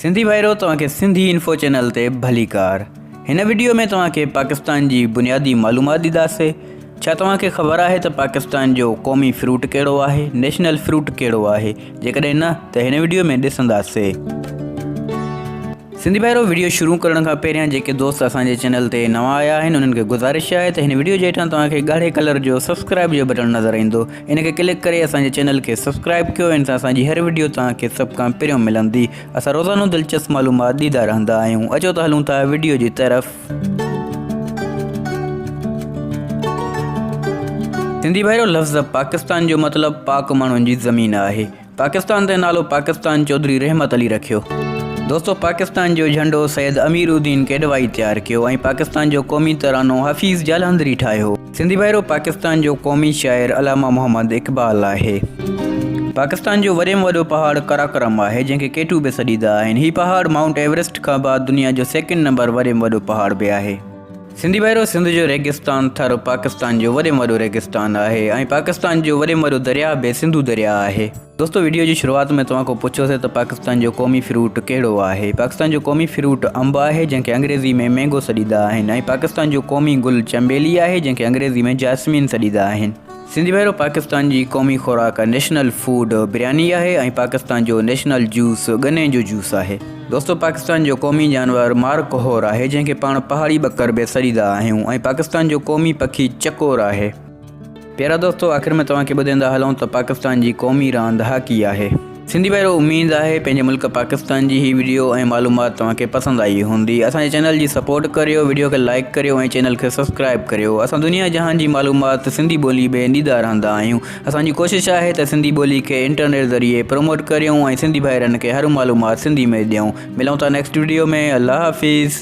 سنڌي ڀائرو توهان کي سنڌي انفو چينل تي ڀليڪار هن وڊيو ۾ توهان کي پاڪستان جي بنيادي معلومات ڏينداسي ڇا توهان کي خبر آهي ته پاڪستان جو قومي فروٽ ڪهڙو آهي نيشنل فروٽ ڪهڙو آهي جيڪڏهن نه ته هن وڊيو ۾ ڏسنداسي سنڌي ڀائرو وڊيو شروع ڪرڻ کان پهريان جيڪي دوست اسان جي چينل تي نوان آيا آهن انهن کي گذارش آهي ته هن وڊيو جي هيٺان توهان کي ڳاڙهي ڪلر جو سبسڪرائب جو بٽڻ نظر ايندو ان کي ڪلڪ ڪري اسان جي چينل کي سبسڪرائب ڪيو ان سان اسان جي هر وڊيو توهان کي سڀ کان پهريون ملندي اسان روزانو دلچسپ معلومات ڏيندا رهندا آهيون اچو ته هلون ٿا وڊيو جي طرف. سنڌي ڀائرو لفظ پاڪستان جو مطلب پاڪ ماڻهن جي زمين آهي. پاڪستان تي نالو پاڪستان چوڌري رحمت علي رکيو. دوستو پاڪستان جو جهنڊو سيد امير الدين ڪيڏوائي تيار ڪيو ۽ پاڪستان جو قومي ترانو حفيظ جالهندري ٺاهيو. سنڌي ڀائرو پاڪستان جو قومي شاعر علامه محمد اقبال آهي. پاڪستان جو وڏي ۾ وڏو پهاڙ قراقرم آهي جنهن کي ڪيٽو به سڏيدا آهن. هي پهاڙ مائونٽ ايورسٽ کان بعد دنيا جو سيڪنڊ نمبر وڏي ۾ وڏو پهاڙ به آهي. سنڌي ڀائرو! سنڌ جو ريگستان ٿر پاڪستان جو وڏي ۾ وڏو ريگستان آهي ۽ پاڪستان جو وڏي ۾ وڏو درياهه به سنڌو درياهه آهي. دوستو وڊيو جي شروعات ۾ توهان کان پڇيو سي ته پاڪستان جو قومي فروٽ ڪهڙو آهي؟ پاڪستان جو قومي فروٽ انب آهي جنهن کي انگريزي ۾ مينگو سڏيندا آهن ۽ پاڪستان جو قومي گل چنبيلي آهي جنهن کي انگريزي ۾ جاسمين سڏيندا آهن. سنڌي ڀيرو پاڪستان جي قومي خوراڪ نيشنل فوڊ برياني آهي ۽ پاڪستان جو نيشنل جوس گني جو جوس آهي دوستو پاڪستان جو قومي جانور مار ڪهور آهي جنهن کي پاڻ پهاڙي ٻڪر به سڏيندا آهيون ۽ پاڪستان جو قومي پکي چڪور آهي. پيارا دوستو آخر ۾ توهان کي ٻڌيندا هلون ته پاڪستان جي قومي راند هاڪي آهي. سنڌي ڀائرو اميد آهي پنهنجي ملڪ پاڪستان جي هي وڊيو ۽ معلومات توهان کي پسند آئي هوندي اسان جي چينل جي سپورٽ ڪريو وڊيو کي لائڪ ڪريو ۽ چينل کي سبسڪرائب ڪريو اسان دنيا جهان جي معلومات سنڌي ٻولي ۾ ڏيندا رهندا آهيون اسان جي ڪوشش آهي ته سنڌي ٻولي کي انٽرنيٽ ذريعي پروموٽ ڪريون ۽ سنڌي ڀائرن کي هر معلومات سنڌي ۾ ڏيون ملون ٿا نيڪسٽ وڊيو ۾ الله حافظ